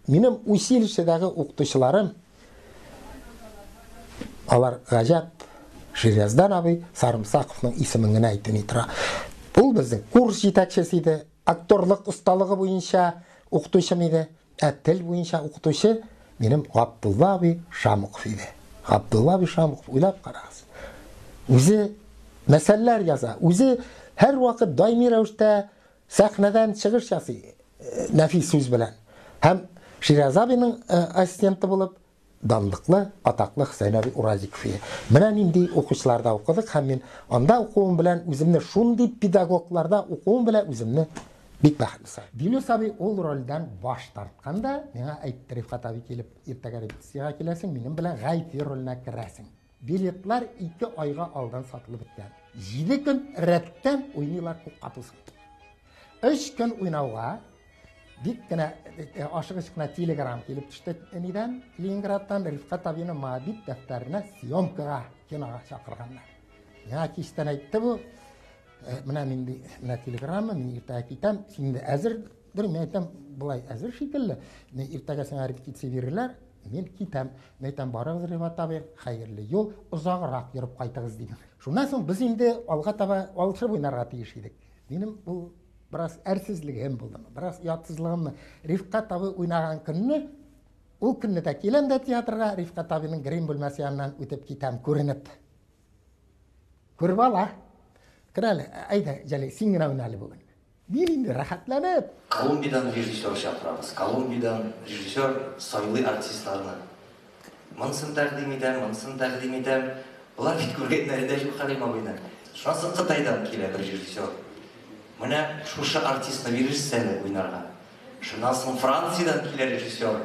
Минем училищедагы укытучыларым, алар гаҗәп, Ширияздан абый Сарымсаковның исемен генә әйтми тора. Ул безнең курс җитәкчесе иде, актерлык осталыгы буенча укытучым иде, ә тел буенча укытучы минем Габдулла абый Шамыков иде. Габдулла абый Шамыков, уйлап карагыз, үзе мәсәлләр яза, үзе һәрвакыт даими рәвештә Сәхнәдән чыгыш ясый нәфис сүз белән һәм Шираз абиның ассистенты булып данлыклы, атаклы Хөсәен абый Уразиков иде. Менә нинди укучыларда укыдык һәм мин анда укуым белән үземне шундый педагогларда укуым белән үземне бик бәхетле саныйм. Дилүс абый ул рольдән баш тартканда, миңа әйтте Рифкат абый килеп, иртәгә репетициягә киләсең, минем белән Гайфи роленә керәсең. Билетлар ике айга алдан сатылып беткән. Җиде көн рәттән уйныйлар күк капусын. Өч көн уйнауга бик кенә э, э, ашыгыч кына телеграмм килеп төште нидән Ленинградтан Рифкат абины Моабит дәфтәренә съемкага кинога чакырганнар. Миңа кичтән әйтте бу, Э, менә нинди менә телеграмма мин иртәгә китәм син әзер Бер мин әйтәм, болай әзер шикелле, мин иртәгә сиңа репетиция бирерләр, мин китәм. Мин әйтәм, барыгыз, Рифат абый, хәерле юл, озаграк йөреп кайтыгыз, дим. Шуннан соң без инде алга таба алышып уйнарга тиеш идек. Минем бу бераз әрсезлегем булды, бераз ятсызлыгымны. Рифкат абый уйнаган көнне, ул көнне дә киләм дә театрга, Рифкат абыйның грим бүлмәсе яныннан үтеп китәм, күренеп. Күреп ала. Кер әле, әйдә, Җәлил, син генә уйна әле бүген. Бил инде, рәхәтләнеп! Колумбиядән режиссер чакырабыз. Колумбиядән режиссер сайлый артистларны. Монысын тәкъдим итәм, монысын тәкъдим итәм. Болар бит күргәннәре дә юк Хәлим абыйның. Шуннан соң Кытайдан килә бер режиссер. Менә шушы артистны бирерсез әле уйнарга. Шуннан соң Франциядән килә режиссер.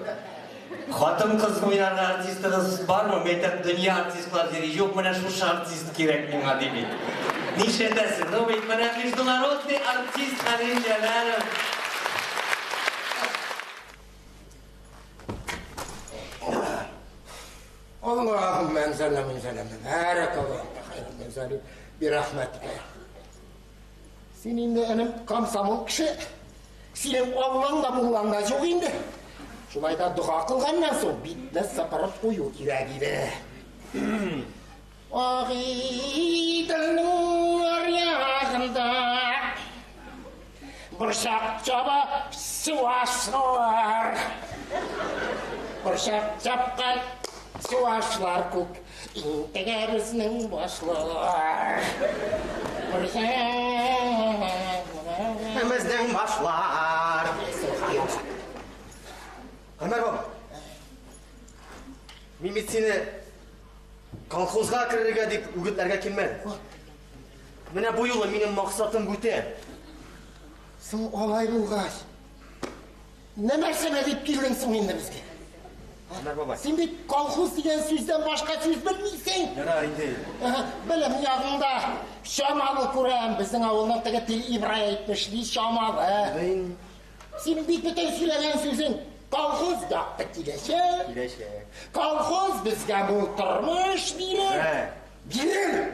Хатын-кыз уйнарга артистыгыз бармы? Мин әйтәм, дөнья артистлар йөри, юк, менә шушы артист кирәк миңа, ди бит. Нишләтәсең? Ну бит менә международный артист Хәлил Җәләлов. Аллаһуммә әнзәлнә мин зәләмнә. Бәрәкаллаһу фиһ. Бирахмәтикә. Син инде, энем, комсомол кеше. Синең Аллаң да, муллаң да юк инде. Шулай да дога кылганнан соң битне сыпырып кую кирәк иде. Агыйдылның аръягында борчак чаба суашлар. Борчак чапкан суашлар күк Интегәрүзнең башлар. Интегәрүзнең башлар. Гомәр баба. Мин бит сине колхозга керергә дип үгетләргә килмәдем. Менә бу юлы минем максатым бүтә. Соң алай булгач, Не нәрсәгә дип килдең соң инде безгә? Менә бабай. Син бит колхоз дигән сүздән башка сүз белмисең. Ярар инде. Белем ягыңда чамалы күрәм. Безнең авылның теге тел Ибрай әйтмеш, ни чамалы. Син бит бөтен сөйләгән сүзең колхоз якты киләчәк. Киләчәк. Колхоз безгә бу тормыш бирер. Бирер.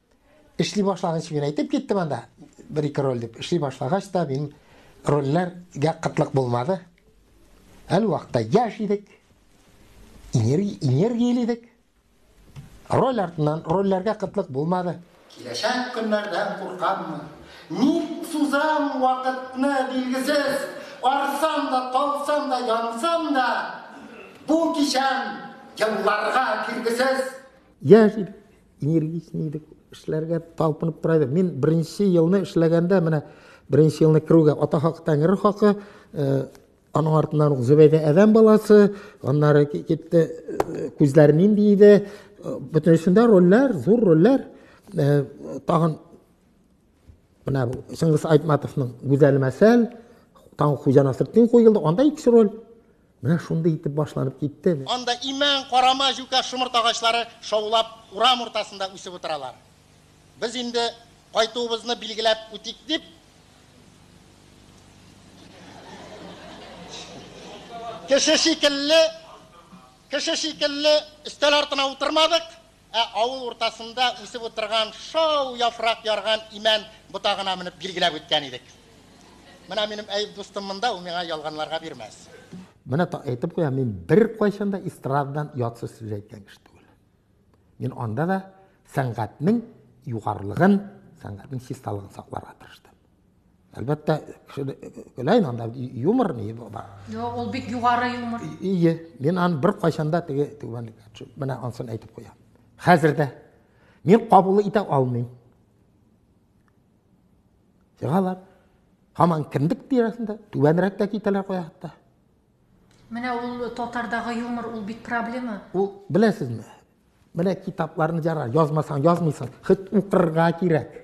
Эшли башлаган өчен әйтеп киттем анда, бер-ике роль дип. Эшли башлагач та мин рольләргә кытлык булмады. Әле вакытта яш идек, энергияле идек. Роль артыннан рольләргә кытлык булмады. Киләчәк көннәрдән куркаммы? Ник сузам вакытны билгесез, арсам да, талсам да, янсам да, бу кичәм елларга киргесез. Яшь идек, энергичный идек эшләргә талпынып тора идек мин беренче елны эшләгәндә менә беренче елны керүгә ата хакы тәңре хакы э, аның артыннан ук зөбәйдә әдәм баласы аннары китте э, күзләр нинди иде э, бөтенесендә рольләр зур рольләр тагын Менә бу Чыңгыз Айтматовның Гүзәл мәсәл, Таң хуҗа Насретдин куелды, анда икесе роль. Менә шундый итеп башланып китте. Анда имән, карама, җүкә, шомырт агачлары шаулап урам уртасында үсеп утыралар. Без инде кайтуыбызны билгеләп үтик дип, кеше шикелле, кеше шикелле өстәл артына утырмадык, Ә авыл уртасында үсеп утырган шау яфрак ярган имән ботагына менеп билгеләп үткән идек. Менә минем Әюп дустым монда, ул миңа ялганларга бирмәс. Менә та әйтеп куям, мин беркайчан да эстрададан ят сүз сүз әйткән кеше түгел. Мин анда да сәнгатьнең югарылыгын, сәнгатьнең чисталыгын сакларга тырыштым. Әлбәттә, көләй анда юмор ни бар. Юк, ул бик югары юмор. Ие, мин аны бер кайчанда теге түгән менә ансын әйтеп куям. Хәзер дә мин кабул итә алмыйм. Сигалар һаман кимдик тирәсендә түбәнрәк тә китәләр куя хәтта. Менә ул татардагы юмор ул бит проблема. Ул беләсезме? Менә китапларны җара язмасаң язмыйсың, хит укырга кирәк.